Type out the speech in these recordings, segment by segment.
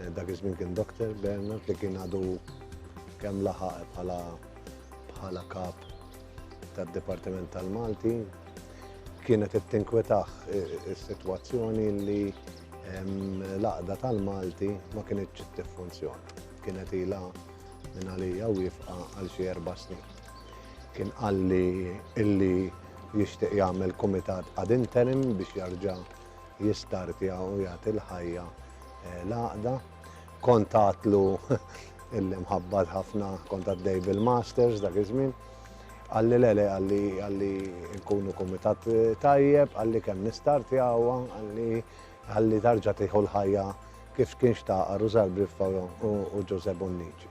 Eh, dak iż-żmien kien Dr. Bernard li kien għadu kemm laħaq bħala bħala kap tad-Dipartiment tal-Malti. Kienet qed tinkwetaħ eh, is-sitwazzjoni li l-għaqda tal-Malti ma kienitx tiffunzjona. Kienet ilha minn għalija wifqa għal xi erba' snin. Kien qalli illi jixtieq jagħmel kumitat ad interim biex jarġa' jistartja u jagħti l-ħajja eh, l-għaqda. Kont għatlu illi mħabbat ħafna kont għaddej bil-masters dak iż-żmien. Għalli lele, għalli għalli nkunu kumitat eh, tajjeb, għalli kemm nistartja għawa, għalli għalli tarġa tiħu l-ħajja kif kien xtaqar u Zalbriffa u Ġuże Bonnici.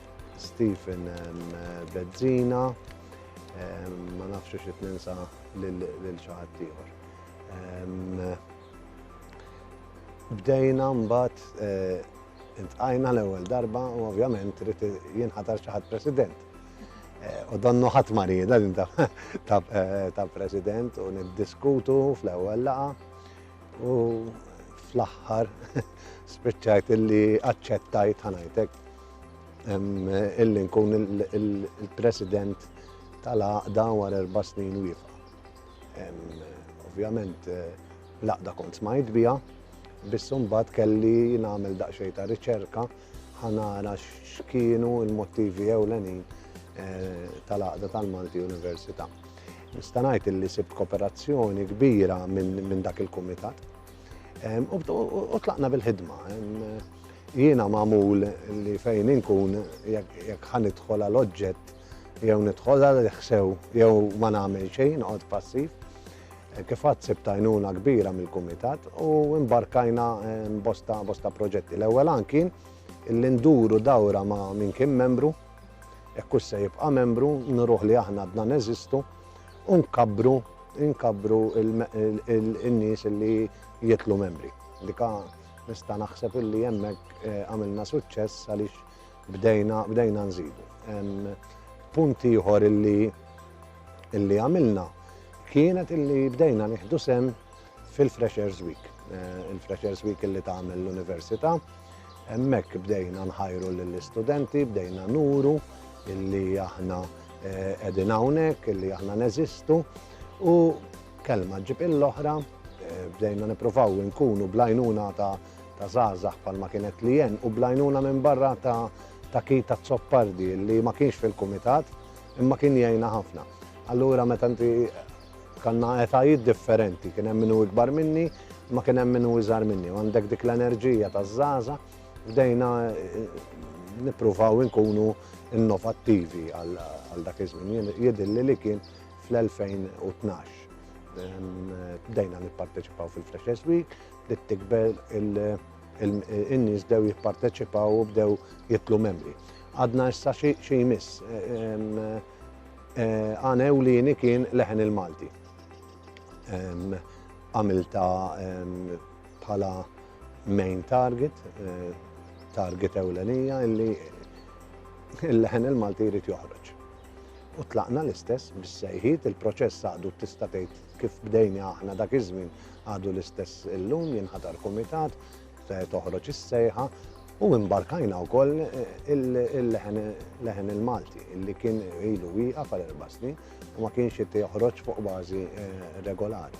Stephen Bezzina, ma nafx xi ninsa lil xi ħadd ieħor. Bdejna mbagħad eh, intqajna l-ewwel darba u ovvjament rrid jinħatar xi ħadd president. Eh, u donnu ħadd marida din eh, ta' president u niddiskutu fl-ewwel laqa u fl-aħħar spiċċajt illi aċċettajt ħanajtek illi nkun il-president tal-għaqda war erba' snin wiefa. Ovvjament, eh, l-għaqda kont smajt bija, biss mbagħad kelli nagħmel daqsxejn ta' riċerka ħanara x'kienu l-motivi ewlenin eh, tal-għaqda tal-Malti Università. Nista' ngħid illi sibt kooperazzjoni kbira minn dak il-kumitat U tlaqna bil-ħidma. Jiena magħmul li fejn inkun jekk ħan idħol għal oġġett jew nidħol għal ħsew jew ma nagħmel xejn noqgħod passiv. Kif għad sib tajnuna kbira mill-kumitat u imbarkajna bosta bosta proġetti. L-ewwel anki illi nduru dawra ma' min kien membru, jekk se jibqa' membru, nruħ li aħna għadna neżistu u nkabbru nkabbru n-nies li jitlu membri. Dika nista' naħseb illi hemmhekk eh, għamilna suċċess għaliex bdejna bdejna nżidu. Punt ieħor illi illi għamilna kienet illi bdejna nieħdu sem fil-Freshers Week. Eh, Il-Freshers Week li tagħmel l-Università. Hemmhekk bdejna nħajru lill-istudenti, bdejna nuru illi aħna eh, qegħdin hawnhekk, illi aħna neżistu u kelma ġib il-oħra eh, bdejna nippruvaw nkunu blajnuna ta' ta' zazax palma kienet li jen u blajnuna minn barra ta' ta' ki ta' zoppardi li ma kienx fil-komitat imma kien jajna ħafna. Allura meta inti Kanna etajiet differenti, kien hemm min hu ikbar minni, imma kien hemm min hu iżgħar minni. Għandek dik l-enerġija taż-żaża, bdejna nippruvaw inkunu innovattivi għal dak iż-żmien. Jidilli li kien fl-2012. Bdejna nipparteċipaw fil-Freshers Week, bdiet tikber in-nies bdew jipparteċipaw u bdew jitlu membri. Għadna issa xi jmiss. Eh, għan ewlieni kien leħen il-Malti. Għamilta bħala main target, eh, target ewlenija illi il-leħen il-Malti jrid joħroġ. U tlaqna l-istess bis-sejħiet il-proċess għadu tista' tgħid kif bdejni aħna dak iż-żmien għadu l-istess illum jinħatar kumitat toħroġ is-sejħa u imbarkajna wkoll il-leħen il-Malti li kien ilu wieqa għal erba' snin u ma kienx qed joħroġ fuq bażi eh, regolari.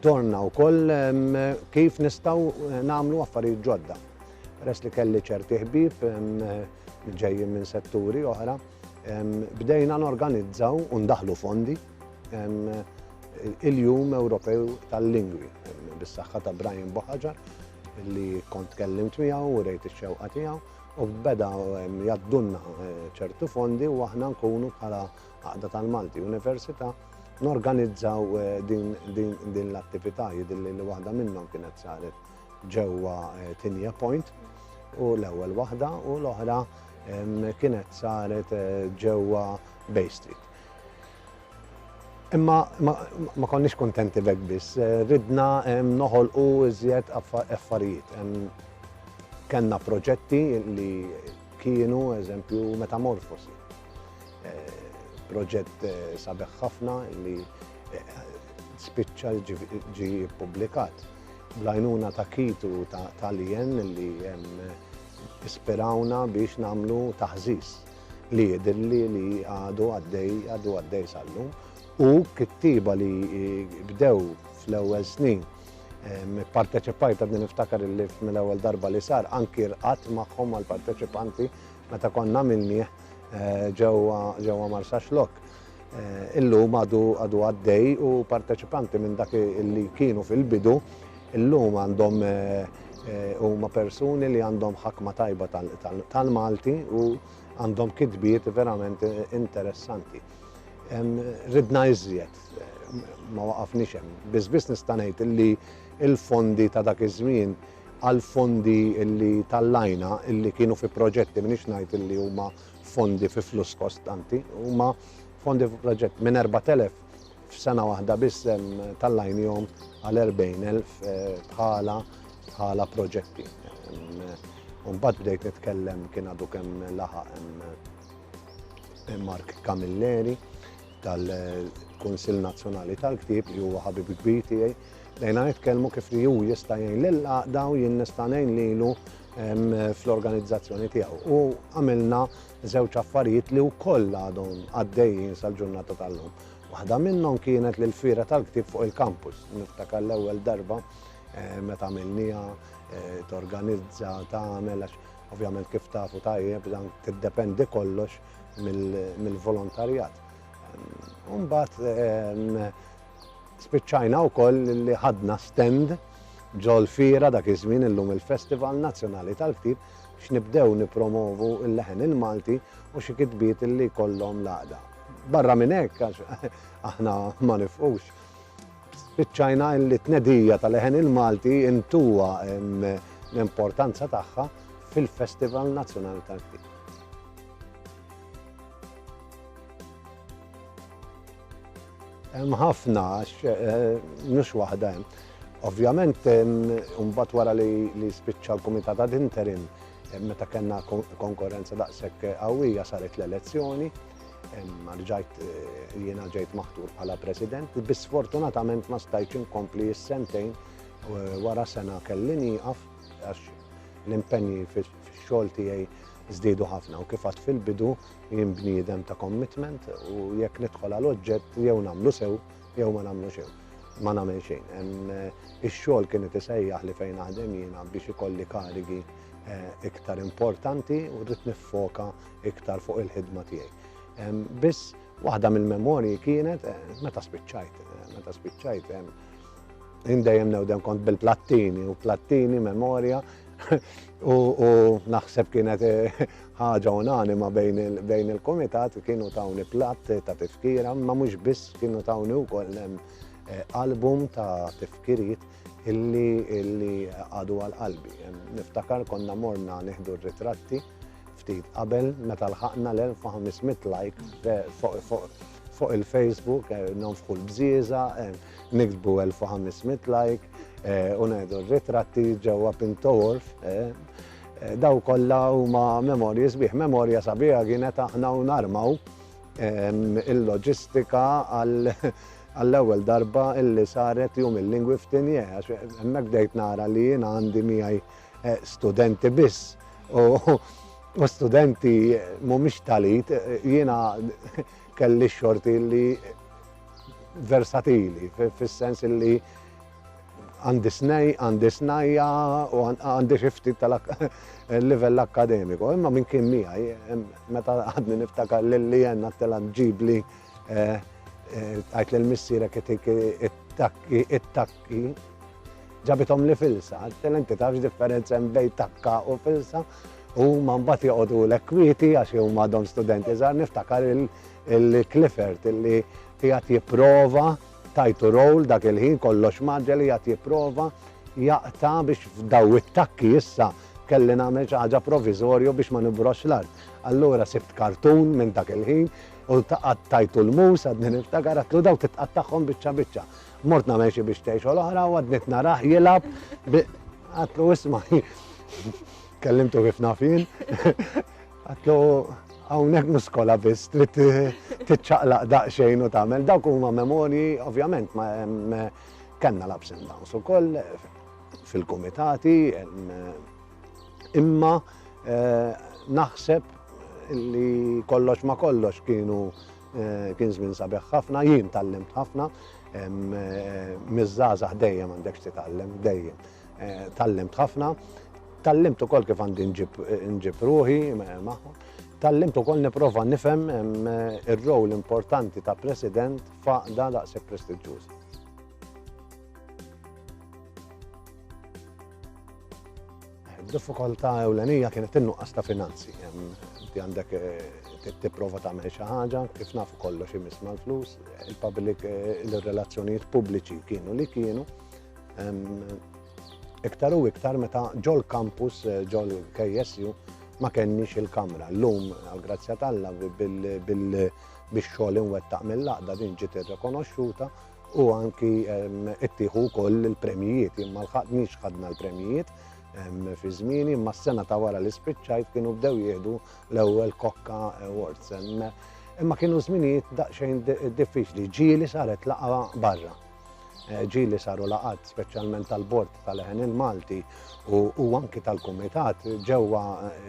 Dorna wkoll kif nistgħu eh, nagħmlu affarijiet ġodda. Res li kelli ċerti ħbib ġejjin minn setturi oħra, bdejna norganizzaw u ndaħlu fondi il-Jum Ewropew tal-Lingwi, bis-saħħa ta' Brian Boħaġar, li kont kellimt miegħu u rejt ix-xewqa tiegħu, u beda jaddunna eh, ċertu fondi u aħna nkunu bħala għaqda tal-Malti Università norganizzaw eh, din l-attività jidilli li waħda minnhom kienet saret ġewwa eh, Tinja Point u l-ewwel waħda u l-oħra kienet saret ġewwa Bay Street. Imma ma konniex kuntenti b'hekk biss, ridna noħolqu iżjed affarijiet. Kellna proġetti li kienu, eżempju, metamorfosi. Proġett sabiħ ħafna li spiċċa ġie ppubblikat bl-għajnuna ta' Keith u ta' Lianne li ispirawna biex nagħmlu taħżiż. li jidhirli li għadu għaddej għadu għaddej sal-lum u kittiba li bdew fl-ewwel snin parteċipajt għadni niftakar li mill-ewwel darba li sar anki rqat magħhom għal parteċipanti meta konna minni eh, ġewwa Marsax Lok. illum għadu għadu għaddej u parteċipanti minn dak li kienu fil-bidu illum għandhom huma persuni li għandhom ħakma tajba tal-Malti u għandhom kitbiet verament interessanti. Ridna iżjed, ma waqafniex hemm. Biss biss nista' ngħid li l-fondi ta' dak iż-żmien għal fondi li tal-lajna li kienu fi proġetti minix ngħid li huma fondi fi fluss kostanti, huma fondi fi proġett minn 4,000 f'sena waħda biss tal-lajnihom għal 40,000 bħala bħala proġetti. Mbagħad bdejt nitkellem kien għadu kemm laħaq Mark Camilleri tal-Kunsill Nazzjonali tal-Ktieb li huwa ħabib kbir tiegħi Bdejna nitkellmu kif li hu jista' jgħin lill-għaqda u jien nista' ngħin lilu fl-organizzazzjoni tiegħu. U għamilna żewġ affarijiet li wkoll għadhom għaddejjin sal-ġurnata tal-lum. Waħda minnhom kienet li l-fira tal-ktib fuq il-kampus. Niftakar l-ewwel darba eh, meta għamilniha eh, torganizza tagħmel għax ovvjament kif tafu tajjeb dan tiddependi kollox mill-volontarjat. Mbagħad ehm, Spiċċajna wkoll li ħadna stand ġol-Fiera dak iż-żmien illum il-Festival Nazzjonali tal-Ktieb biex nibdew nippromovu l-leħen il-Malti u xi kitbiet li jkollhom l-għaqda. Barra minn hekk għax aħna ma nifqux. Spiċċajna li tnedija tal-leħen il-Malti intuwa l-importanza tagħha fil-Festival Nazzjonali tal-Ktieb. Hemm ħafna għax mhux waħda hemm. Ovvjament imbagħad wara li spiċċa l-Kumitat ad interim meta kellna konkurrenza daqshekk qawwija saret l-elezzjoni rġajt eh, jiena ġejt maħtur bħala president, biss fortunatament ma stajċ inkompli s-sentejn eh, wara sena kelli nieqaf għax l-impenji fix-xogħol tiegħi żdiedu ħafna u kif fil-bidu Jien bniedem ta' commitment u jekk nidħol għal oġġett jew nagħmlu sew jew ma nagħmlu xew. Ma nagħmel xejn. Eh, ix-xogħol kien qed isejjaħ li fejn naħdem jiena biex ikolli karigi eh, iktar importanti u rrid niffoka iktar fuq il-ħidma tiegħi. Biss waħda mill-memorji kienet eh, meta spiċċajt, meta spiċċajt Jien dejjem newdem kont bil-plattini u plattini memorja u naħseb kienet eh, ħaġa unanima bejn il-komitat kienu tawni platt ta' tifkira, ma mhux biss kienu tawni wkoll hemm eh, album ta' tifkiriet illi illi għadu għal qalbi. Niftakar konna morna nieħdu r-ritratti ftit qabel meta lħaqna l-1500 like eh, fuq il-Facebook, nonfħu l-bżieża, niktbu 1500 like u ngħidu ritratti ġewwa Pintoworf. Daw kollha huma memorji sbieħ. Memorja sabiħa kienet aħna u narmaw il-loġistika għal għall-ewwel darba illi saret jum il-lingwi f'tinje, għax hemmhekk bdejt nara li jien għandi miegħi eh, studenti biss. U studenti mhumiex talit, jiena Kelli xorti li versatili, fis-sens li għandi snej, għandi snajja u għandi xifti tal-livell akademiku. Imma minn kien miħaj, meta għadni niftakar l-li jenna t-tela ġibli eh, eh, għajt l-missira kittik it-takki, it-takki, Ġabithomli filsa, għaltilha inti tafx differenza hemm bejn takka u filsa. U ma mbagħad joqogħdu l kwieti għax huma għadhom studenti żgħar niftakar il-Clifford illi qiegħed jipprova tajtu roll dak il-ħin kollox maġġel qiegħed jipprova jaqta biex f'daw it-takki issa kelli nagħmel xi ħaġa provizorju biex ma nibrox l-art. Allura sibt kartun minn dak il-ħin u taqgħad tajtu l-mus għadni niftakar għatlu daw titqattagħhom biċċa biċċa. Mort nagħmel xi biex tgħixu l-oħra u għadniet narah jilgħab bi għatlu isma' kellimtu kif naf jien. Għatlu hawnhekk mhux skola biss trid tiċċaqlaq daqsxejn u tagħmel dawk huma memorji ovvjament ma kellna l-ups and downs ukoll fil-kumitati imma eh, naħseb li kollox ma kollox kienu Kien żmien sabiħ ħafna, jien tallimt ħafna, miż-żgħażagħ dejjem għandek titgħallem, dejjem. Eh, tallimt ħafna, tallimt ukoll kif għandi nġib ruħi magħhom, tallimt ukoll nipprova nifhem eh, ir-rowl importanti ta' president faqda daqshekk prestiġġuż. Diffikultà ewlenija kienet in-nuqqas ta' finanzi. Inti għandek eh, tipprova tagħmel xi ħaġa, kif nafu kollox imiss mal-flus, il-public eh, il-relazzjonijiet pubbliċi kienu li kienu. Iktar u iktar meta ġol kampus eh, ġol KSU ma kenniex il-kamra. Llum għal-grazzja tal-la bil-xogħol inwettaq mill-laqda din ġiet irrekonoxxuta. u anki ittieħu wkoll il-premjijiet. Jien ma lħaqtniex ħadna l-premjijiet fi żmieni, imma s-sena ta' wara li spiċċajt kienu bdew jieħdu l-ewwel Kokka Awards. Imma kienu żminijiet daqsxejn diffiċli, ġieli saret laqa barra. Eh, ġieli saru laqat speċjalment tal-bord tal-Leħen il-Malti u anki tal-Kumitat ġewwa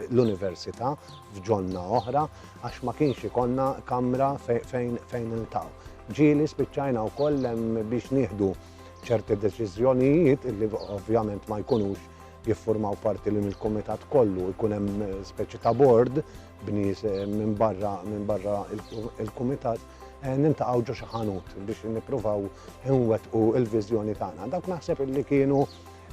l-Università f'ġonna oħra għax ma kienx ikonna kamra fejn iltaw. Ġieli spiċċajna wkoll hemm biex nieħdu ċerti deċiżjonijiet li ovvjament ma jkunux jiffurmaw parti li mill-kumitat kollu jkun hemm eh, speċi ta' bord b'nies eh, minn barra minn barra il-kumitat Eh, nintaqaw ġo xi ħanut biex nippruvaw inwettqu il-viżjoni tagħna. Dawk naħseb li kienu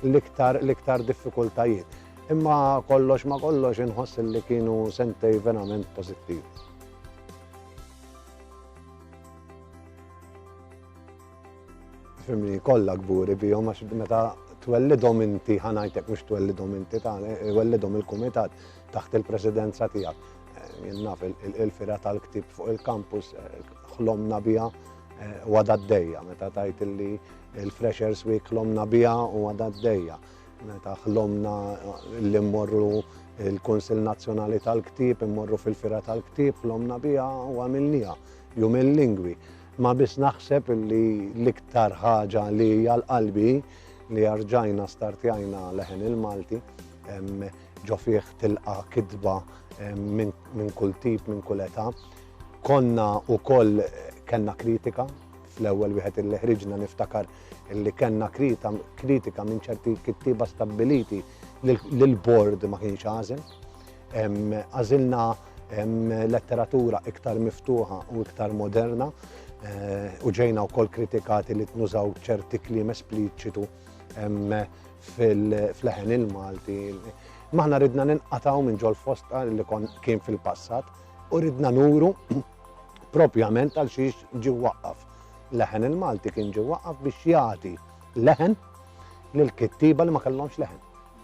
l-iktar l-iktar diffikultajiet. Imma kollox ma kollox inħoss li kienu sentej verament pożittiv. Fimni kollha kburi bihom għax meta twellidhom inti ħanajtek mhux twellidhom inti ta' wellidhom il-kumitat taħt il-presidenza tiegħek. Jien naf il-fira tal-ktib fuq il-kampus ħlomna biha u għadha d-dejja meta tajt li il-Freshers Week ħlomna biha u għadha d-dejja meta ħlomna li mmorru il-Konsil Nazzjonali tal-Ktib, immorru fil-Fira tal-Ktib, ħlomna biha u għamilniha jum il-lingwi. Ma biss naħseb li l-iktar ħaġa li hija l-qalbi li arġajna startjajna leħen il-Malti ġo fih tilqa kidba minn kull tip, minn kull età. Konna u koll kena kritika, fl-ewel wieħed il ħriġna niftakar li kena kritika minn ċerti kittiba stabiliti li l-bord ma kienx għażel. Għażilna letteratura iktar miftuħa u iktar moderna eh, u ġejna wkoll kritikati li tnużaw ċerti kliem espliċitu fil-leħen il-Malti. Maħna ridna ninqataw minn ġol fosta li kon kien fil-passat u ridna nuru propjament għal xiex ġi waqqaf. Leħen il-Malti kien ġi waqqaf biex jagħti leħen lil kittiba li ma kellhomx leħen.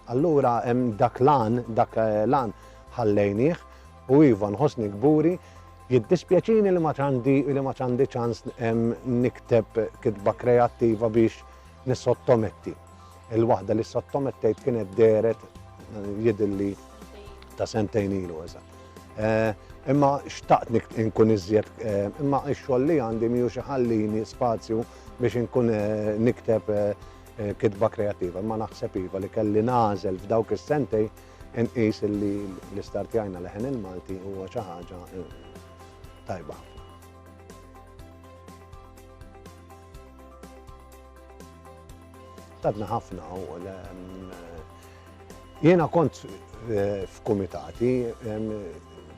Allura dak l-għan, dak l-għan ħallejnieh u iva nħossni kburi, jiddispjaċini li ma ċandi ċans nikteb kitba kreattiva biex nissottometti. Il-waħda li ssottomettejt kienet dehret jidilli ta' sentejn ilu eżatt. Eh, imma xtaqt nkun iżjed, eh, imma x-xogħol li għandi miħu xi ħallini spazju biex inkun eh, nikteb kitba kreattiva, imma naħseb iva li kelli nagħżel f'dawk is-sentej inqis li l-istartjajna leħen il-Malti huwa xi ħaġa eh, tajba ħafna. Tadna ħafna u mm, jiena kont eh, f'kumitati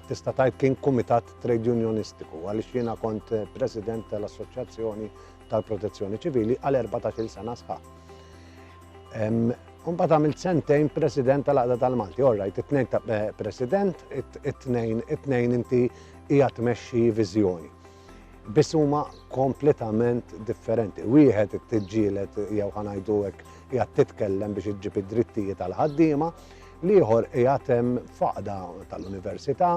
tista' tajt kien kumitat trade unionistiku għaliex jiena kont eh, president tal-assoċjazzjoni tal-Protezzjoni Ċivili għal 14-il sena sħaħ. Mbagħad għamilt sentejn President tal-Aqda tal-Malti, orrajt, it-tnejn ta' eh, President, it-tnejn it-tnejn inti hija tmexxi viżjoni. Biss huma kompletament differenti. Wieħed it-tiġġielet jew ħanajdu hekk hija titkellem biex iġġib id-drittijiet tal-ħaddiema, l-ieħor qiegħed hemm faqda tal-università,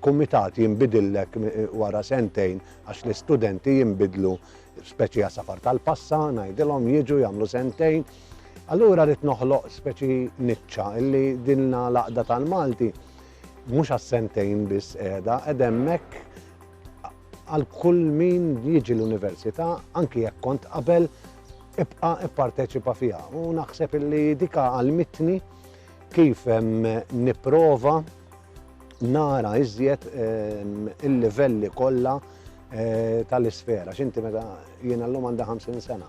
Kumitat jinbidillek wara sentejn għax l-istudenti jinbidlu speċi għasafar tal-passa, ngħidilhom jiġu jagħmlu sentejn. Allura rrid noħloq speċi niċċa illi dinna laqda tal-Malti mhux għas-sentejn biss qiegħda qed hemmhekk għal kull min jiġi l-università anki jekk kont qabel ibqa' ipparteċipa fiha u naħseb illi dika għal mitni Kif nipprova nara iżjed il-livelli kollha tal-isfera, x'inti meta jiena llum għandha 50 sena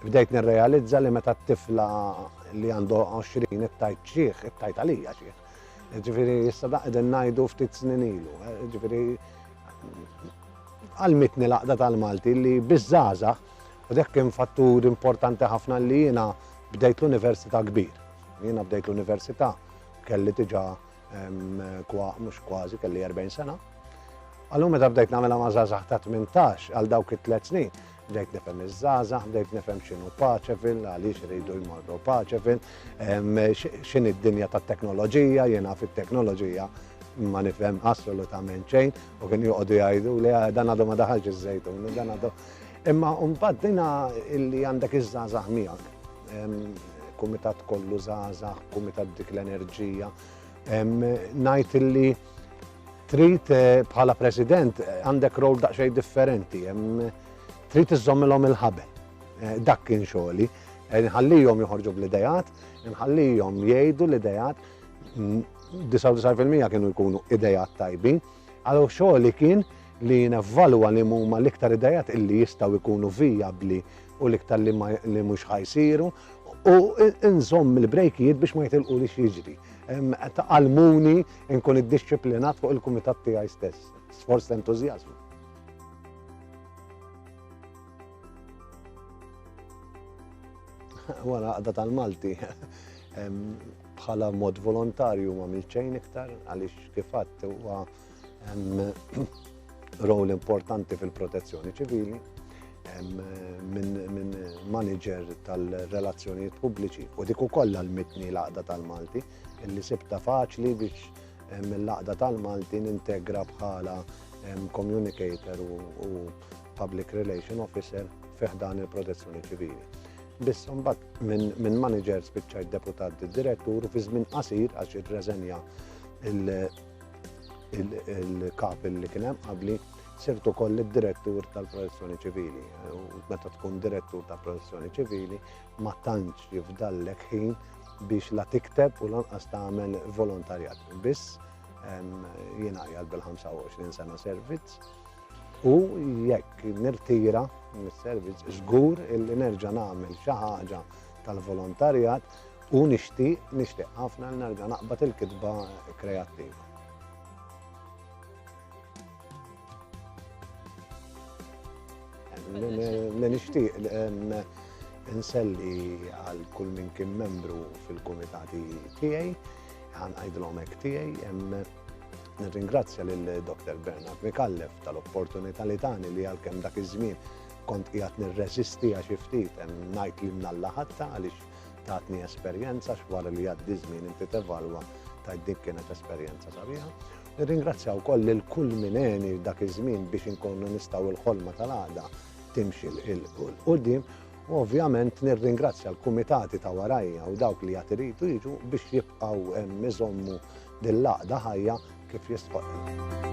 bdejt nirrealizza li meta t-tifla li għandu 20 it-tajt xieħ, it-tajt għalija xieħ. Ġifiri, jissa daqden najdu ftit snin ilu. Ġifiri, għal-mitni laqda tal-Malti li bizzaza, u dek kien fattur importanti ħafna li jina Bdejt l-università kbir. Jiena bdejt l-università kelli diġà mhux kważi kelli 40 sena. Għallum meta bdejt nagħmilha ma' żgħażagħ ta' 18 għal dawk it-tliet snin, bdejt nifhem iż-żgħażagħ, bdejt nifhem x'inhu paċevil, għaliex iridu jmorru paċevil, x'in id-dinja tat-teknoloġija, jiena fit-teknoloġija ma nifhem assolutament xejn u kien joqogħdu jgħidu li ah, dan għadu ma daħalx iż-żejtun, dan għadu Imma mbagħad dina illi għandek iż-żgħażagħ miegħek. Kumitat kollu żgħażagħ, kumitat dik l-enerġija. Ngħid illi trid eh, bħala president eh, għandek rol daqsxejn differenti. Trid iżommilhom il-ħabel. Eh, dak kien xogħli. Nħallihom joħorġu bl-idejat, nħallihom jgħidu l-idejat, 99% kienu jkunu idejat tajbin. Allura xogħli kien li nevvalwa li huma l-iktar idejat illi jistgħu jkunu vijabbli u l-iktar li mhux ħajsiru u nżomm il-brejkijiet biex ma jitilqu li jiġri. Għalmuni nkun id-disciplinat fuq il-kumitat tiegħi stess, sforz ta' entużjażmu. Wara għaqda tal-Malti. bħala mod volontarju ma għamilt xejn iktar għaliex kif għadt huwa rol importanti fil-protezzjoni ċivili minn manager tal-relazzjonijiet pubbliċi u dik ukoll għalmitni l-għaqda tal-Malti illi sibta faċli biex mill-laqda tal-Malti nintegra bħala communicator u public relation officer fiħdan il-protezzjoni ċivili. Biss mbagħad minn manager spiċċa deputat direttur u fi żmien qasir għax irreżenja il-kap li kien hemm qabli sirtu koll id-direttur tal-protezzjoni ċivili. U meta tkun direttur tal-protezzjoni ċivili ma tantx jifdallek ħin biex la tikteb u lanqas tagħmel volontarjat. Biss jiena jgħal bil-25 sena servizz U jekk nirtira mis-servizz żgur illi nerġa' nagħmel xi ħaġa tal-volontarjat u nixtieq, nixtieq ħafna li nerġa' naqbad il-kitba kreattiva. Li nixtieq inselli għal kull min kien membru fil-kumitati tiegħi, ħan għajdlhom hekk tiegħi, Nirringrazzja lil Dr. Bernard Mikallef tal-opportunità li tani li għalkemm dak iż-żmien kont qiegħed nirreżisti għax ftit hemm ngħid li mnalla ħatta għaliex tatni esperjenza x'wara li għaddi żmien inti tevalwa ta' dik kienet esperjenza sabiħa. Nirringrazzja wkoll lil kull mineni dak iż-żmien biex inkunu nistgħu l-ħolma tal-għada timxi l-qudiem U ovvjament nirringrazzja l-kumitati ta' warajja u dawk li jatiritu jiġu biex jibqaw mizommu Din l-għaqda ħajja kif jistħoqqilha.